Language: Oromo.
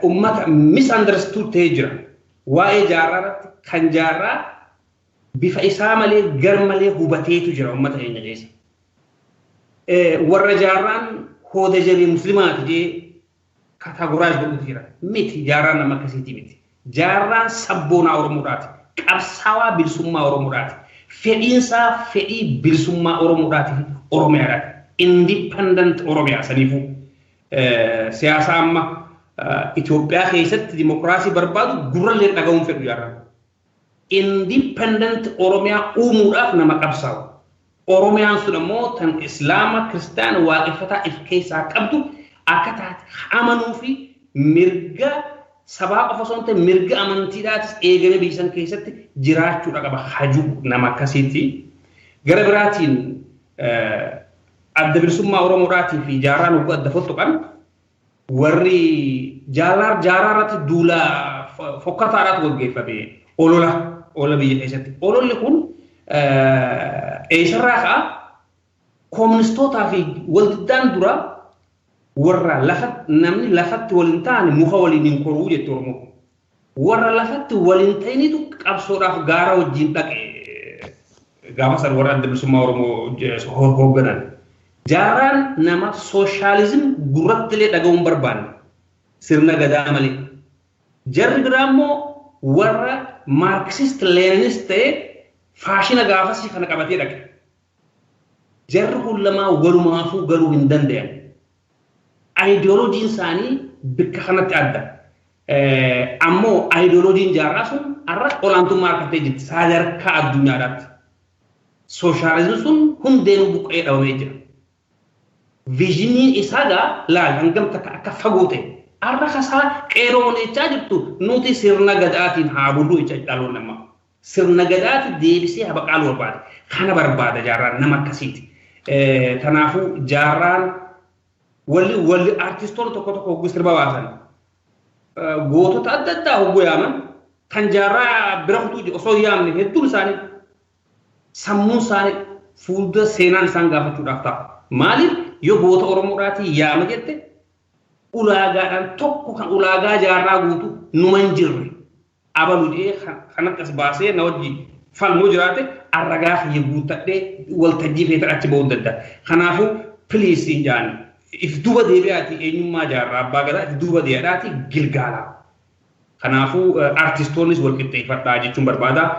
Ummata misunderstood ta'ee jira. Waa'ee jaarraa irratti kan jaarraa bifa isaa malee gar malee hubateetu jira ummata keenya keessa. Warra jaarraan hooda jarii muslimaati jee kataagoraayis godhutu jira. Miti jaarraan nama akkasiitii miti. Jaarraan sabboonaa Oromoodhaati. Qabsaawaa bilisummaa Oromoodhaati. Fedhiinsaa fedhii bilisummaa Oromoodhaati fi Oromiyaadhaati. Independent Oromiyaa saniifuu. Siyaasa amma Itoophiyaa keessatti dimokiraasii barbaadu gurrallee dhaga'uun fedhu jarra. Independent Oromiyaa uumuudhaaf nama qabsaa'u. Oromiyaan sun ammoo tan Islaama, Kiristaana, Waaqeffataa if keessaa qabdu akka taate amanuu fi mirga sabaa qofa osoo hin ta'in mirga amantiidhaatis eegamee biyya san keessatti jiraachuudha qaba hajuu nama akkasiiti. Gara biraatiin Adda Bilisummaa Oromoodhaatii fi Jaarraan hogguu adda fottoqan warri Jaalaar Jaaraa irratti duula fokkataadhaatu gaggeeffame. Olola olola biyya keessatti. Ololli kun eessarraa ka'a kooministootaa fi waldiddaan dura warra lafa namni lafatti wal hin taane muka waliin hin koruu jette Oromoo. Warra lafatti wal hin ta'initu qabsoodhaaf gaara wajjin dhaqe. Gaafa san warra adda bilisummaa Oromoo hoogganan. Jaaraan nama sooshaalizim gurrattilee dhaga'uu hin barbaanne. Sirna gadaa malee. Jarri biraa immoo warra maarkisist leeninist ta'e faashina gaafasii kana qabatee dhaqe. Jarri kun lamaan walumaafuu galuu hin dandayan. Ayidooloojiin isaanii bikka kanatti adda. Ammoo ayidooloojiin jaarraa sun har'a olaantummaa argattee jirti sadarkaa addunyaadhaatti. Sooshaalizimii sun hundeenuu buqqa'ee dhabamee jira. Viizhiniin isaa gaa laal hangam takka akka fagoo ta'e. Har'a kasaa qeeroo wanechaa jirtu nuti sirna gadaatiin haa bullu jecha dhaloonni ammaa. Sirna Gadaatu deebisee habaqaalu barbaada. Kana barbaada jaarraan nama akkasiiti. Kanaafuu jaarraan walli walli artistoonni tokko tokko hogguu sirba baasan gootota adda addaa hogguu yaaman kan jaarraa bira kutuuti osoo yaamne hedduun isaanii sammuun isaanii fuuldura seenaan isaan gaafachuudhaaf ta'a. Maaliif yoo goota Oromoodhaatii yaama jette ulaagaadhaan tokko kan ulaagaa jaarraa guutu numa hin jirre. abalu jedhee kan akkas baasee na wajji falmu jiraate an ragaa kiyya guuttadhee waltajjii keetan achi ba'uu danda'a. Kanaafuu please siin ja'an if duuba deebi'aati eenyummaa jaarraa abbaa gadaa if duuba dee'adhaati gilgaalaa. Kanaafuu artistoonnis wal qixxeeffadhaa jechuun barbaada.